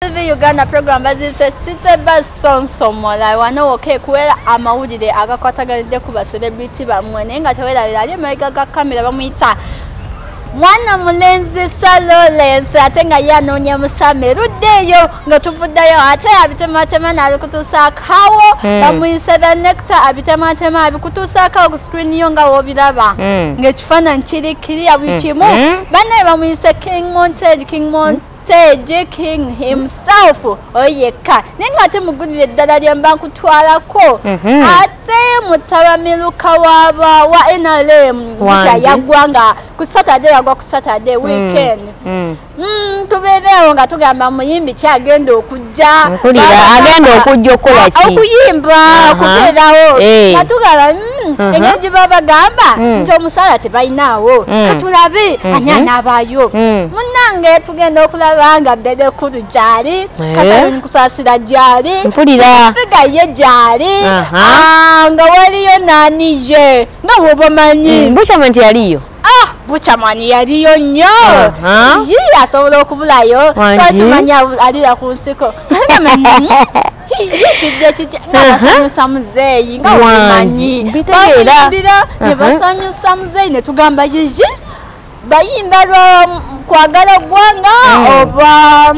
TV Uganda program baziyise City Bus Sonsomola wano woka ekuwera amawulire agakwataganidde ku baserebriti bammwe naye nga tewerabira ali emabega ga kamera bamuyita mwana mulenzi salolensi ate nga ye anoonya musame erudde eyo nga tuvuddeyo ate abitematema naabikutuusaako hawo hmm. bamuyise the necta abitematema abikutuusaako awo ku screen yo nga wobiraba hmm. ngaekifaananyi kiri kiri abukimu hmm. bannaye bamuyise king monted king mont Teddy King himself oyekka naye nga ate mugulire eddala lye mba nkutwalako mhm. ate mutabamiruka waba wa NRM yagwa nga ku Saturday yagwa ku Saturday mm. weekend mm. mm, tubeereewo nga tugamba muyimbi kyagenda oku okujja mpulira agenda okujja okukola ah, ki okuyimba okubeerawo eh. nga tugala mm, uh-huh. engeri gye baba bagamba mm. nti omusaala tebalinaawo mm. katulabe mm-hmm. ani anaabaayo munnange tugenda okulaba nga bebe kulu gyali eh. katalimukusaasira gyali mpulirasigaye gyali uh-huh. ah, nga waliyo naaniye nga wobamanyi bukyama nti yaliyo Ah, bukyamani yaliyo nnyo yi asobola okubulayo kimani alira ku nsiko kijja kijja nabasanyusa muzeeyi nga omanyi bayimbira nebasanyusa muzeeyi netugamba yiyi bayimba lwa kwagala gwanga mm. oba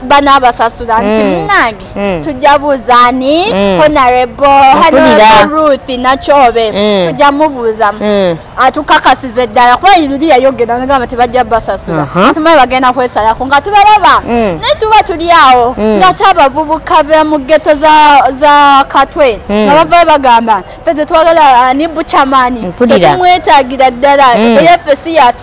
banabasasula nti mm. munange mm. tujja buuza ani mm. honorable honorable ruth nakyobe mm. tujja mubuuza mm. atukakasiza eddala kuba luli yayogera nagamba tebajja basasula uh -huh. tumaye bagenda kwesalako nga tubalaba mm. naye tuba tuli awo mm. nga te abavubuka be mu geto za, za katwe mm. nga bavayo bagamba fe tetwagala ani bucamani tetumwetagira ddala mm. eyefesi yatu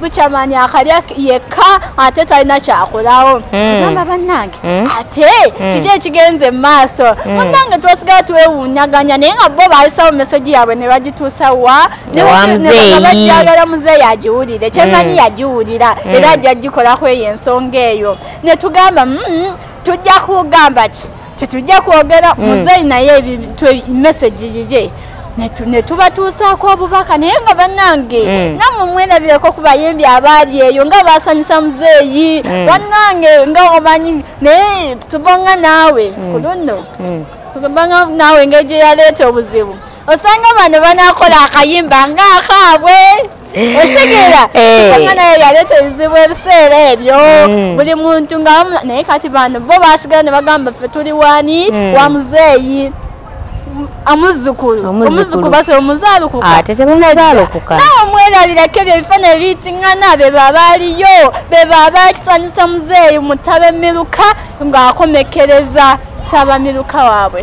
bukyamanya akalya yekka ate talina kyakolawo hmm. amba bannange hmm. ate hmm. kiki ekigenze mu maaso munnange twasigala twewuunyaganya naye nga bo baalisawo meseji yaabwe ne bagituusa wa nebajagala muzeeyi agiwulire kyemanyi yagiwulira era ajja gikolako eyo ensonga eyo ne tugamba mm, mm, tujja kugamba ki tetujja kwogera mm. muzeeyi naye ebintu message yigye netubatuusaako obubaka naye nga bannange mm. namwe mwerabireko ku bayimbi abaali eyo nga basanyusa muzeeyi mm. bannange nga omanyi naye tubonga naawe ku luno tubonga naawe engeri gye yaleeta obuzibu osanga bano banakola akayimba ngaakaabwe okitegera eh. kanga naye yaleeta ebizibu ebiseera ebyo hmm. buli muntu nga naye kati bano bo basigala ne bagamba ffe tuli wani hmm. wa muzeeyi amuzzukulu omuzzukulu basa omuzaalukuka ah, tetemuzaalukuka nawe omwerabirako ebyo ebifaananyi biyitingana be babaaliyo be babakisanyusa muzeeyi mutabe miruka ng'akomekereza tabamiruka waabwe